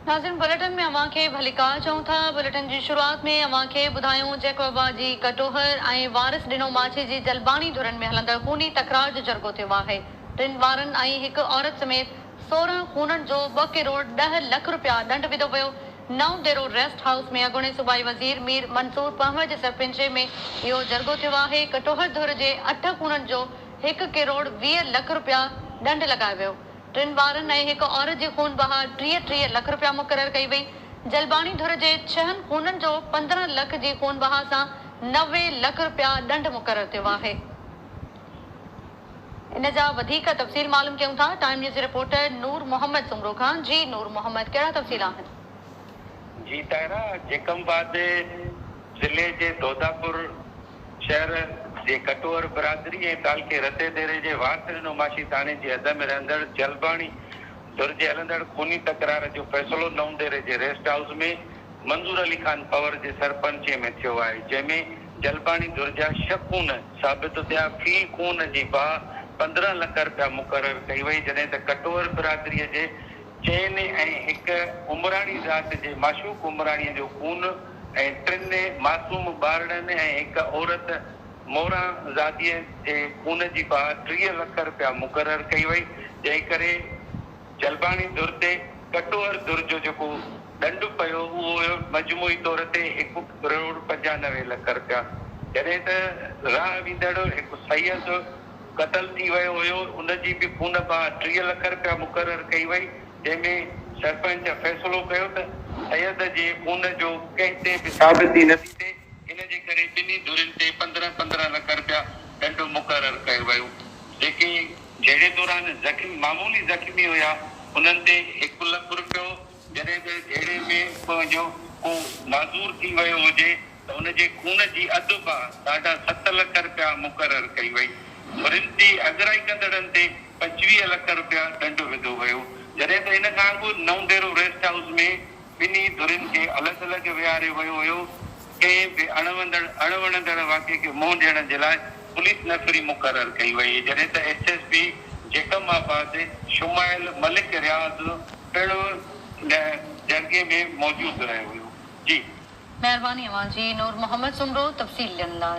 ناظرين بليٽن ۾ اوهان کي ڀليڪار چئون ٿا. بليٽن جي شروعات ۾ اوهان کي ٻڌايون جيڪوبا جي ڪٽوهر ۽ وارث ڏنو ماڇي جي جلباڻي ڌرين ۾ هلندڙ خوني تڪرار جو جرڳو ٿيو آهي. ٽن ٻارن ۽ هڪ عورت سميت سورهن خونن جو ٻه ڪروڙ ڏهه لک رپيا ڏنڊ وڌو ويو. نئون ديرو ريسٽ هائوس ۾ اڳوڻي صوبائي وزير مير منصور پنهور جي سرپنچي ۾ اهو جرڳو ٿيو آهي. ڪٽوهر ڌر جي اٺ خونن جو هڪ ڪروڙ ويهه لک رپيا ڏنڊ لڳايو ويو. ٽن ٻارن ۽ هڪ عورت جي خون بهاء ٽيهه ٽيهه لک رپيا مقرر ڪئي وئي. جلباڻي ڌر جي ڇهن خونن جو پندرهن لک جي خون بهاء سان نوي لک رپيا ڏنڊ مقرر ٿيو آهي. ان جا وڌيڪ تفصيل معلوم ڪيون ٿا ٽائيم نيوز جي رپورٽر نور محمد سومرو کان جي نور محمد ڪهڙا تفصيل آهن؟ جي طاهرا جيڪم بعد ضلعي جي دوداپور شهر جي ڪٽور برادري ۽ تعلقي رتي ديري جي وارسري نوماشي ٿاڻي جي حد ۾ رهندڙ جلباڻي ڌر جي هلندڙ خوني تڪرار جو فيصلو نئون ديري جي ريسٽ هائوس ۾ منظور علي خان پنور جي سرپنچي ۾ ٿيو آهي جنهن ۾ جلباڻي ڌر جا ڇهه خون ثابت ٿيا في خون جي باهه پندرهن لک رپيا مقرر ڪئي وئي جڏهن ته ڪٽور برادري جي چئن ۽ هڪ عمراڻي ذات جي معشوق عمراڻي جو خون ۽ ٽن معصوم ٻارڙن ۽ هڪ عورت موران زاديء جي خون جي پاهه ٽيهه لک رپيا مقرر ڪئي وئي، جنهن ڪري جلباڻي ڌر تي ڪٽوهر ڌر جو جيڪو ڏنڊ پيو اهو هيو مجموعي طور تي هڪ ڪروڙ پنجانوي لک رپيا، جڏهن ته راهه ويندڙ هڪ سيد قتل ٿي ويو هيو ان جي به خون پاهه ٽيهه لک رپيا مقرر ڪئي وئي. جنهن ۾ سرپنچ فيصلو ڪيو ته سيد جي خون جو ڪنهن تي به ثابتي نه ٿي ٿئي، ان جي ڪري ٻنهي ڌرين تي پندرهن پندرهن لک رپيا ڏنڊ مقرر ڪيو ويو، جيڪي جهيڙي دوران زخمي معمولي زخمي هيا انهن تي هڪ لک رپيو، جڏهن ته جهيڙي ۾ ڪنهن جو ڪو معذور ٿي ويو هجي ته ان جي خون جي اڌ باهه ساڍا ست لک رپيا مقرر ڪئي وئي. هرن جي اڳرائي ڪندڙن تي پنجويهه لک رپيا ڏنڊ وڌو ويو، جڏهن ته ان کان اڳ نئون ديرو ريسٽ هائوس ۾ ٻنهي ڌرين کي الڳ الڳ ويهاريو ويو هيو، ڪنهن به اڻ وندڙ اڻ وڻندڙ واقعي کي منهن ڏيڻ جي لاء پوليس نفري مقرر ڪئي وئي، جڏهن ته S S P Jacobabad شمائل ملڪ رياض پڻ ان جرڳي ۾ موجود رهيو هيو. جي. مهرباني اوهان جي نور محمد سومرو تفصيل ڏيڻ لاء.